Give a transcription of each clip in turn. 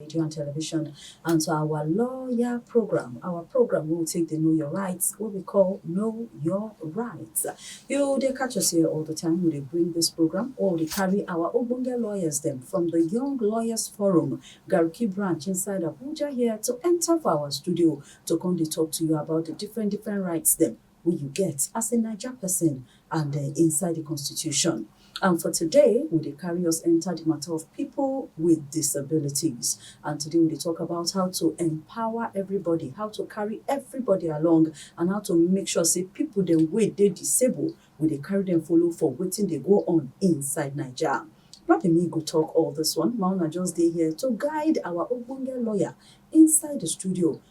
radio and television and to our lawyer program our program wey we take dey know your rights wey we call know your rights you dey catch us here all the time we dey bring this program or we dey carry our ogbonge lawyers dem from the young lawyers forum garki branch inside abuja here to enter for our studio to come dey talk to you about the different different rights dem wey you get as a Naija person and uh, inside the constitution. And for today, we dey carry us enter the matter of people with disabilities. And today we dey talk about how to empower everybody, how to carry everybody along, and how to make sure say people the way they disabled, we dey carry them follow for waiting they go on inside Nigeria. Not be me go talk all this one. Mauna just dey here to guide our Ogbonge lawyer inside the studio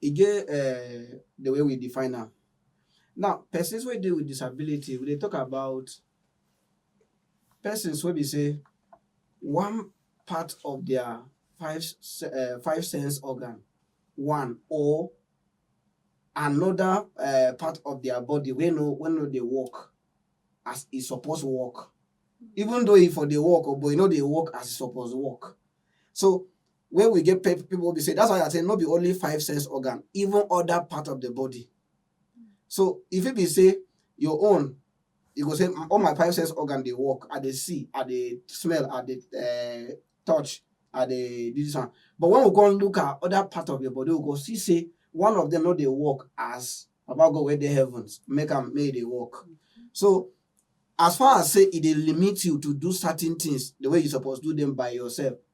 E get um the way we define am. Now, persons wey dey with disability, we dey talk about persons wey be say one part of their five se- uh, five sense organ, one or another uh, part of their body wey no wey no dey work as e suppose work. Even though e for dey work, oh, but e no dey work as e suppose work. So wey we get pe- people wey be say that's why i say no be only five sense organ even other part of the body so if it be say your own you go say "Mm, all my five sense organ dey work i dey see i dey smell i dey uh, touch i dey do this one but when we come look at other part of your body we go see say one of them no dey work as baba god wey dey heavens make am make e dey work so as far as say e dey limit you to do certain things the way you suppose do them by yourself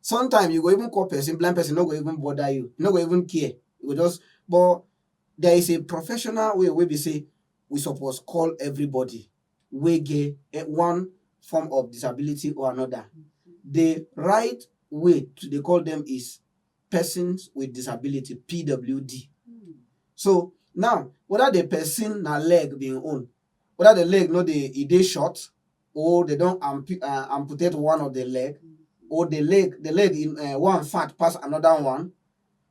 Sometimes you go even call person, blind person no go even bother you, no go even care. You go just but there is a professional way wey be say we suppose call everybody wey get eh, one form of disability or another. The right way to dey call them is persons with disability, PWD. So now whether the person na leg be im own, whether the leg no dey e dey short or they don ampu- uh, amputate one of the leg or the leg the leg in uh, one fat pass another one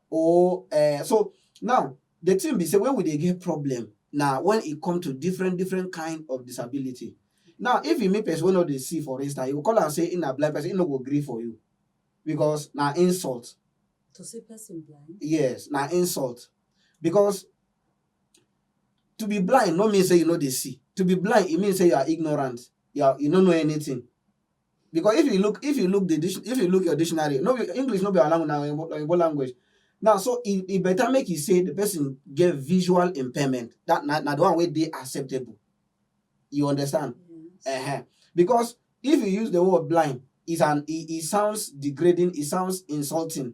or uh, so now the thing be say when we dey get problem na when e come to different different kind of disability now if you meet person wey no dey see for instance you go call am say e na blind person e no go gree for you because na insult to see person blind yes na insult because to be blind no mean say you no dey see to be blind e mean say you are ignorant you are you no know anything because if you look if you look the dic- if you look your dictionary no be english no be our language na oyinbo oyinbo language now so e e better make you say the person get visual impairment that na na the one wey dey acceptable you understand uh-huh. because if you use the word blind is an e e sounds degrading e sounds insulting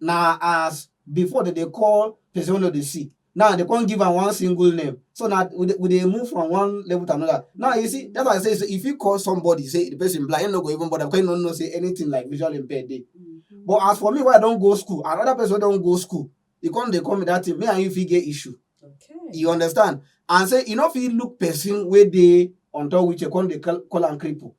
na as before dem dey call person wey no dey see now they come give am one single name so now we dey, we dey move from one level to another now you see that's why i say so if you call somebody say the person blind him no go even bother because him no know say anything like visual impaired dey mm-hmm. but as for me wey i don go school another person wey don go school he come dey call me that thing me and you fit get issue okay. you understand and say you no fit look person wey dey on top wheelchair come dey call, call am cripple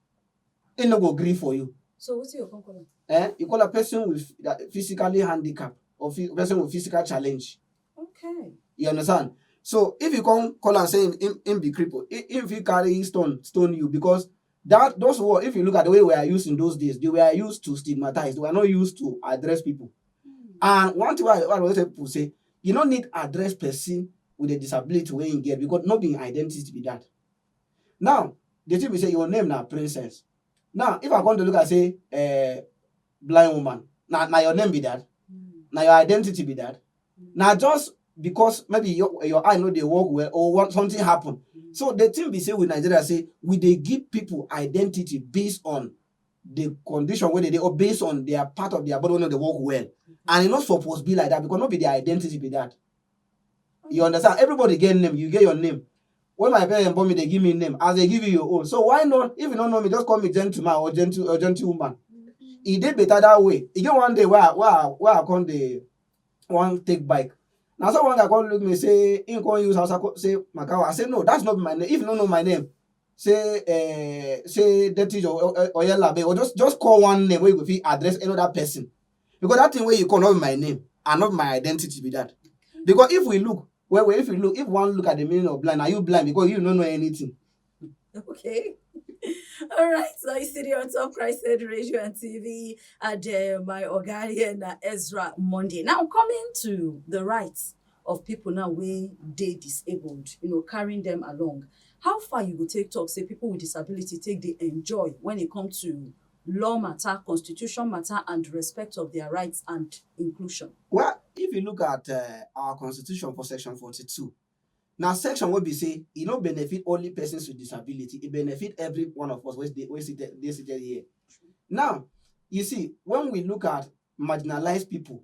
e no go gree for you So what's your conclusion? eh you call a person with that physically handicap or phy- person with physical challenge Okay. you understand so if you come call am say him him, him be cripple him, him fit carry stone stone you because that those word if you look at the way we are used in those days they were used to stigmatize they were not used to address people Hmm. and one thing wey i wey i always tell people say you no need address person with a disability wey him get because no be him identity be that Now, the thing be say your name na princess. Now, if I come to look and say, uh, blind woman, now, now your name be that. Now your identity be that. Now just because maybe your, your eye know they work well or what something happen. So the thing we say with Nigeria say we they give people identity based on the condition where they, they or based on their part of their body when they work well. And it not supposed to be like that because not be their identity be that. You understand? Everybody get name. You get your name. When my parents born me, they give me name. As they give you your own. So why not? If you don't know me, just call me gentleman or gentle or gentlewoman. It did better that way. You get one day where I, where I, where I come the one take bike. Now someone that come look me say, in come use house say Makawa. I say no, that's not my name. If you don't know my name, say uh, say deputy or or, or, or, or just just call one name where you go fit address another person. because that thing wey you call no be my name and no be my identity be that because if we look well well if we look if one look at the meaning of blind na you blind because you no know anything. okay. All right, so you see on top Christ Said Radio and TV at uh, my Ogarian uh, Ezra Monday. Now, coming to the rights of people now when they disabled, you know, carrying them along. How far you go take talk, say people with disability take the enjoy when it comes to law matter, constitution matter and respect of their rights and inclusion. Well, if you look at uh, our constitution for section 42, now section wey be say e no benefit only persons with disability, e benefit every one of us wey dey wey sit dey seated here. Now, you see, when we look at marginalized people,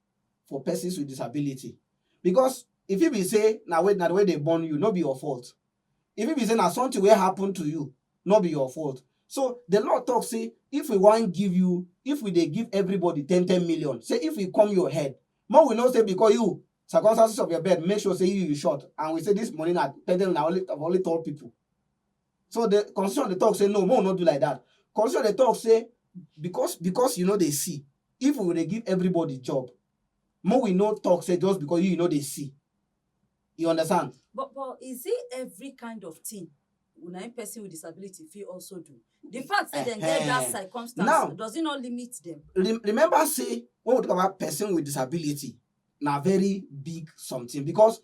for persons with disability because e fit be say na way na the way they born you no be your fault e fit be say na something wey happen to you no be your fault so the law talk say if we wan give you if we dey give everybody ten ten million say if we come your head make we know say because you circumstances of your bed make sure say you you short and we say this money na ten ten na only of only tall people So the constitution dey talk say no, make we no do like that. Constitution dey talk say because because you no dey see, if we dey give everybody job, make we no talk say just because you you no dey see. You understand? But but is it every kind of thing na im person with disability fit also do? The fact say dem get that Ehen. circumstance Now- does it not limit them? Re- remember say when we talk about person with disability, na very big something because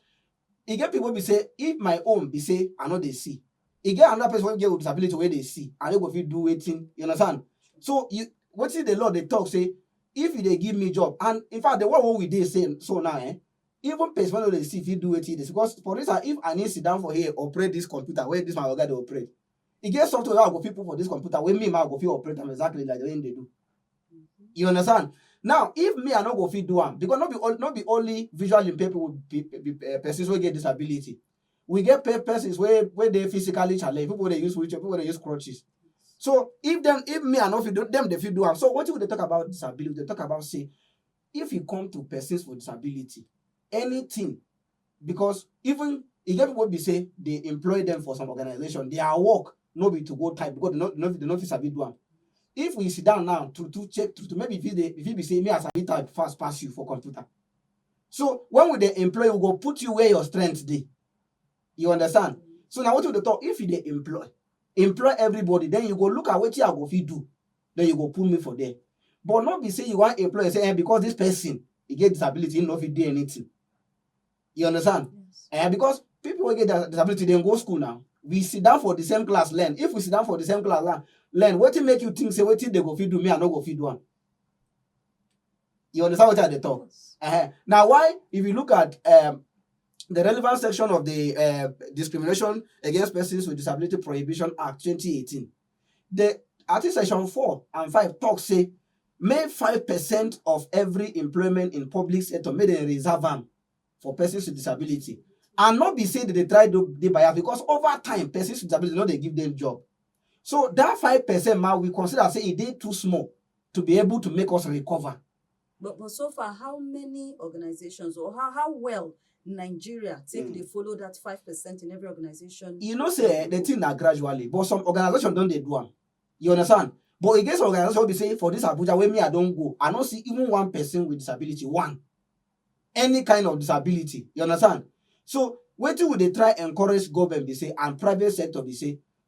E get pipu wey be sey if my own be sey I no dey see, e get another person wey get disability wey dey see and wey go fit do wetin, you understand. So you, wetin de law dey talk sey if you dey give me job and in fact de world wey we dey sey so now um even person wey no dey see fit do wetin e dey see because for instance if I need sit down for here operate dis computer wey dis my oga dey operate e get software wey I go fit put for this computer wey me ma I go fit operate am exactly like the way him dey do. You understand? Now, if me I no go fit do am because no be only, no be only visually impaired people be, be uh, persons wey get disability. We get pe- persons wey wey dey physically challenged, people wey dey use wheelchair, people wey dey use crutches. So if them, if me I no fit do them, they fit do am. So wetin we dey talk about disability, we dey talk about say if you come to persons with disability, anything because even e get people be say they employ them for some organization their work no be to go type because they no no they no fit sabi do am if we sit down now to to check to, to maybe if it dey if it be say me as i type fast pass you for computer so when we dey employ we go put you where your strength dey you understand so na wetin we dey talk if you dey employ employ everybody then you go look at wetin i go fit do then you go put me for there but no be say you wan employ say eh because this person e get disability he no fit do anything you understand yes. eh because people wey get disability dem go school now we sit down for the same class learn if we sit down for the same class learn learn wetin make you think say wetin dey go fit do me i no go fit do am you understand wetin i dey talk uh -huh. na why if you look at um, the relevant section of the uh, discrimination against persons with disability prohibition act 2018 The Article Section 4 and 5 talk say make 5 percent of every employment in public sector make dem reserve am for persons with disability. And not be say they dey try do dey bias because over time persons with disability no dey give them job. So that 5 percent ma we consider say e dey too small to be able to make us recover. But but so far, how many organizations or how how well Nigeria take Mm. dey follow that five percent in every organization? you know say eh, the thing na gradually but some organization don dey do am you understand but e get some organization wey be say for this abuja wey me i don go i no see even one person with disability one any kind of disability you understand so wetin we dey try encourage government be say and private sector be say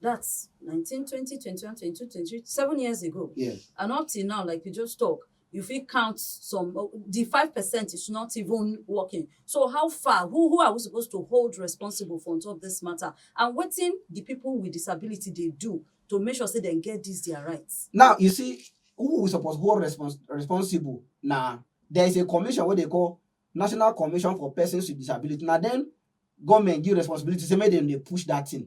That's 19, 20, 21, 22, 23, seven years ago. Yeah. And up till now, like you just talk, you feel count some oh, the five percent is not even working so how far who who are we supposed to hold responsible for on top this matter and what thing the people with disability they do to make sure say they get this their rights. now you see who we suppose hold respons responsible na there is a commission wey dey call national commission for persons with disability na then government give responsibility say make dem dey push that thing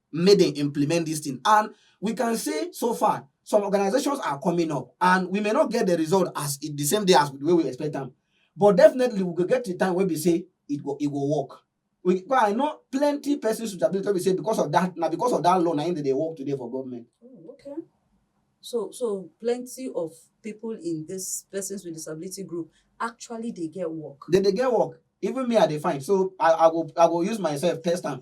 make dem implement this thing and we can say so far some organizations are coming up and we may not get the result as it, the same day as the way we expect them but definitely we go get to time where we say it go it go work we but i know plenty persons with ability wey be say because of that na because of that law na im dey dey work today for government. Oh, okay. So, so plenty of people in this persons with disability group actually they get work. dem dey get work even me i dey find so i i go i go use myself test am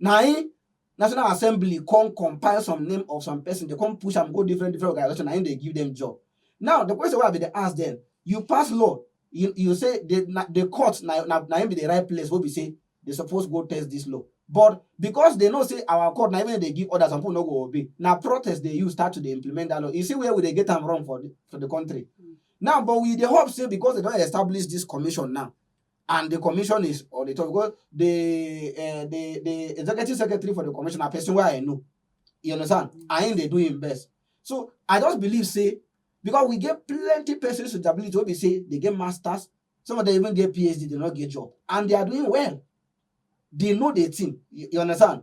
Na im National Assembly come compile some name of some person, dey come push am go different different organization, na im dey give dem job. Now, the question wey I bin dey ask dem, you pass law, you you say the na the court na na na im be the right place wey be say dey suppose go test dis law. But because dey know say our court na even dem dey give order, some people no go obey, na protest dey use start to dey implement dat law. You see where we dey get am wrong for the for the country. Now, but we dey hope say because dey don establish dis commission now, and the commission is on the top because the uh, the the executive secretary for the commission na person wey i know you understand mm. and him dey do him best so i just believe say because we get plenty persons with ability wey be say they get masters some of them even get phd they no get job and they are doing well they know the thing you, you understand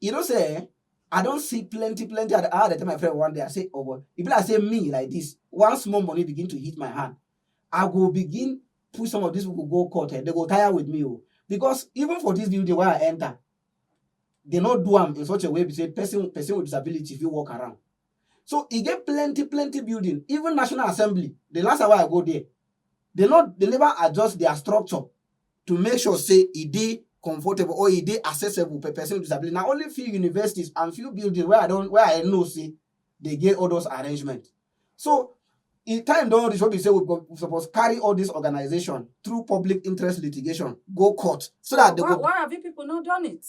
You know, say, eh, I don't see plenty, plenty. I had to tell my friend one day, I say, oh, but if I say me like this, one small money begin to hit my hand, I will begin push some of these people go court. Eh? They go tire with me. Oh. Because even for this building where I enter, they not do them in such a way to say person, person with disability if you walk around. So he get plenty, plenty building. Even National Assembly, the last hour I go there, they not they never adjust their structure to make sure say e dey comfortable or e dey accessible for person with disability. Na only few universities and few buildings wey I don wey I know say dey get all those arrangement. So e time don reach wey be say we go we suppose carry all these organization through public interest litigation go court so dat dey why, go why have you people not done it?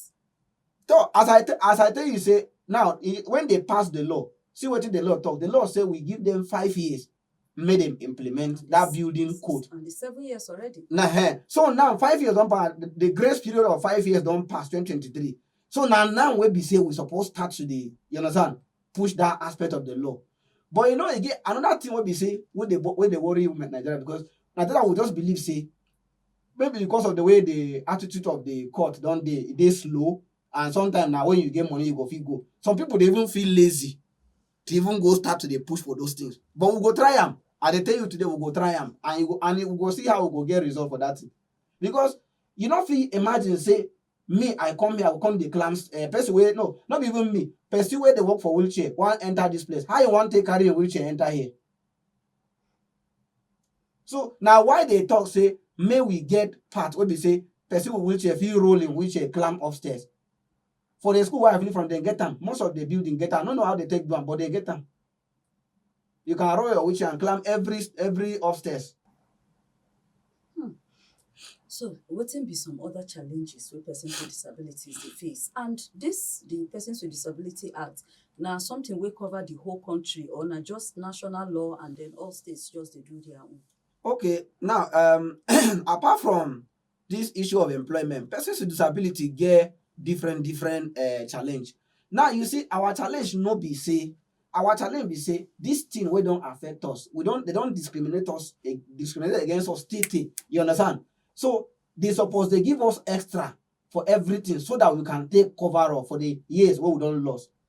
So as I as I tell you say now e, when they pass the law, see wetin the law talk. The law say we give them five years make dem implement that building code And it's seven years already. na eh so now five years don pass the- the grace period of five years don pass 2023 so na now wey be say we suppose start to dey you understand push that aspect of the law but you know e get another thing wey be say wey dey bo- wey dey worry women nigeria because nigeria will just believe say maybe because of the way the attitude of the court don dey e dey slow and sometimes na when you get money you go fit go some people dey even feel lazy to even go start to dey push for those things but we go try am i dey tell you today we go try am and you go and you go see how we go get result for that thing because you no fit imagine say me i come here i go come dey climb uh, person wey no no be even me person wey dey work for wheelchair wan enter this place how you wan take carry a wheelchair enter here so na why dey talk say make we get part wey be say person with wheelchair fit roll im wheelchair climb upstairs For the school where I finish from, they get am. Most of the building get am. I no know how they take do am, but they get am. You can roll your wheelchair and climb every every upstairs. Hmm. So, wetin be some other challenges wey persons with disabilities dey face? And this, the Persons with Disability Act, na something wey cover the whole country or na just national law and then all states just dey do their own? Okay, now um, apart from this issue of employment persons with disability get different different uh, challenge now you see our challenge no be say our challenge be say this thing wey don affect us we don they don discriminate us eh, discriminate against us till till you understand so they suppose dey give us extra for everything so that we can take cover up for the years wey we don lost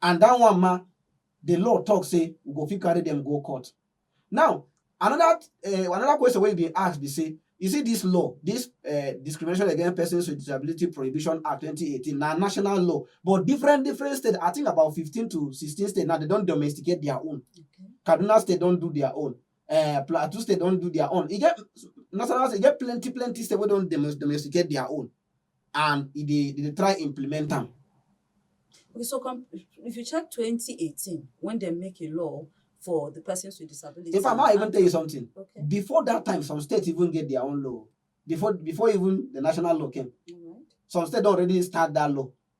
And dat one ma, di law tok say we go fit carry dem go court. Now, anoda um anoda question wey e bin ask be say, you see dis law, dis um Discrimination Against Persons Wit Disability Prohibition Act twenty eighteen, na national law, but different different states, I think about fifteen to sixteen states now, dem don domesticate dia own. Kaduna State don do dia own, um Plateau State don do dia own, e get national e get plenty plenty states wey don domesticate dia own. and e dey dey try implement am. Okay, so if you check 2018, when they make a law for the persons with disabilities. In fact, I even tell you something. Okay. Before that time, some states even get their own law. Before before even the national law came. Right. Some states already start that law.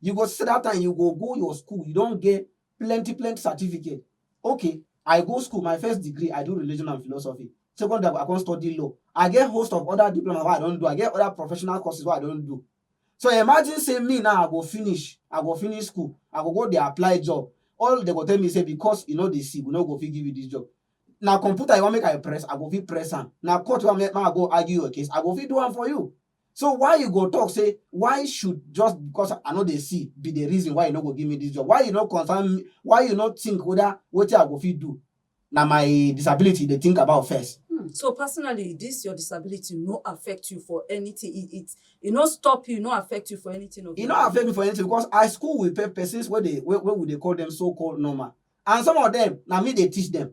You go see that time you go go your school, you don get plenty plenty certificate. Okay, I go school, my first degree, I do religion and philosophy. Second degree, I come study law. I get host of other diploma wey I don do, I get other professional courses wey I don do. So imagine say me now I go finish, I go finish school, I go go dey apply job. All dem go tell me say because you no dey see, we no go fit give you this job. Na computer you wan make I press, I go fit press am. Na court you wan make I go argue your case, I go fit do am for you. So why you go talk say why should just because I no dey see be the reason why you no go give me this job? Why you no concern me? Why you no think whether wetin I go fit do? Na my disability you dey think about first. Hmm. So personally, this your disability no affect you for anything. It it, it no stop you, no affect you for anything. Of E no affect me for anything because I school with pe- persons wey dey wey, wey we dey call them so called normal, and some of them na me dey teach them.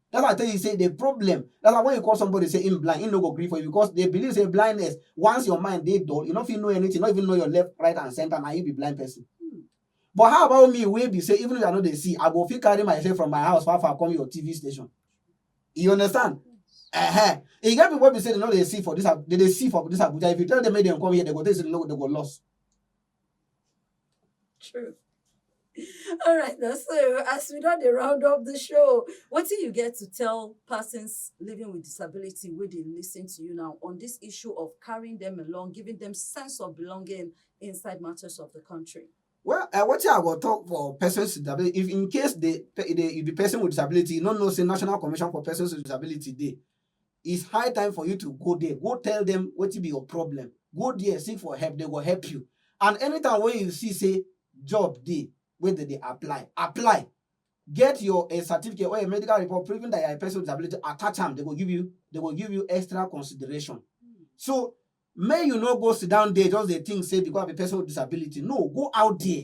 That's why I tell you say the problem. That's why when you call somebody say him blind, he no go gree for you because they believe say blindness. Once your mind dey dull, you no fit know anything, not even know your left, right, and center. Now you be blind person. But how about me? Wey be say even if I no dey see, I go fit carry myself from my house far far come your TV station. You understand? Uh-huh. E get people wey be say they no dey see for this, Ab- they dey see for this Abuja. If you tell them make dem come here, they go tell you say they no, they go lost. True. All right, now, so as we don dey round up the show, what do you get to tell persons living with disability wey dey listen to you now on this issue of carrying them along, giving them sense of belonging inside matters of the country? Well, uh, what I will talk for persons with disability, if in case the, the, the person with disability, you don't know, say National Commission for Persons with Disability Day, It's high time for you to go there, go tell them wetin be your problem, go there seek for help, they go help you and anytime wey you see say job dey wey dem dey apply, apply get your um certificate or your medical report proving that you are a person with disability attach am, dem go give you dem go give you extra consideration. So make you no go sit down there just dey think say because I be person with disability, no go out there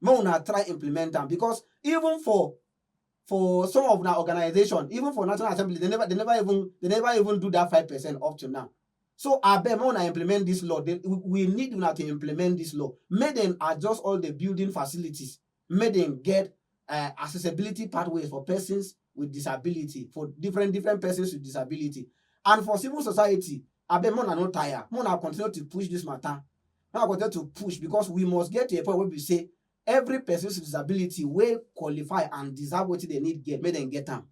make una try implement am because even for for some of una organization even for national assembly they never they never even they never even do that five percent up to now so abeg make una implement this law they, we, we need una to implement this law make dem adjust all the building facilities make dem get uh, accessibility pathways for persons with disability for different different persons with disability and for civil society abeg make una no tire make una continue to push this matter Now I go tell to push because we must get to a point wey be say every person with disability wey qualify and deserve wetin dem need get make dem get am.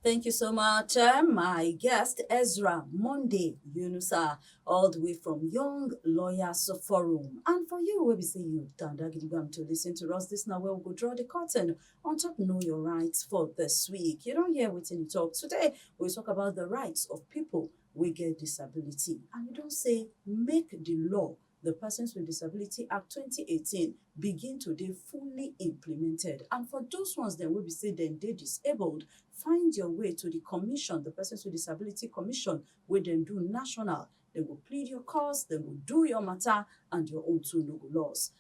Thank you so much, eh, my guest Ezra Monday Yunusa, all the way from Young Lawyers Forum. And for you, we be say you down there, Gidigam, to listen to us. This now where we go draw the curtain on top Know Your Rights for this week. You don't hear what you talk today. We talk about the rights of people wey get disability and e don say make di law, di Persons with Disability Act twenty eighteen, begin to dey fully implemented and for those ones dem wey be say dem dey disabled, find your way to di commission, di Persons with Disability Commission wey dem do national, dem go plead your cause, dem go do your matter and your own too no go loss.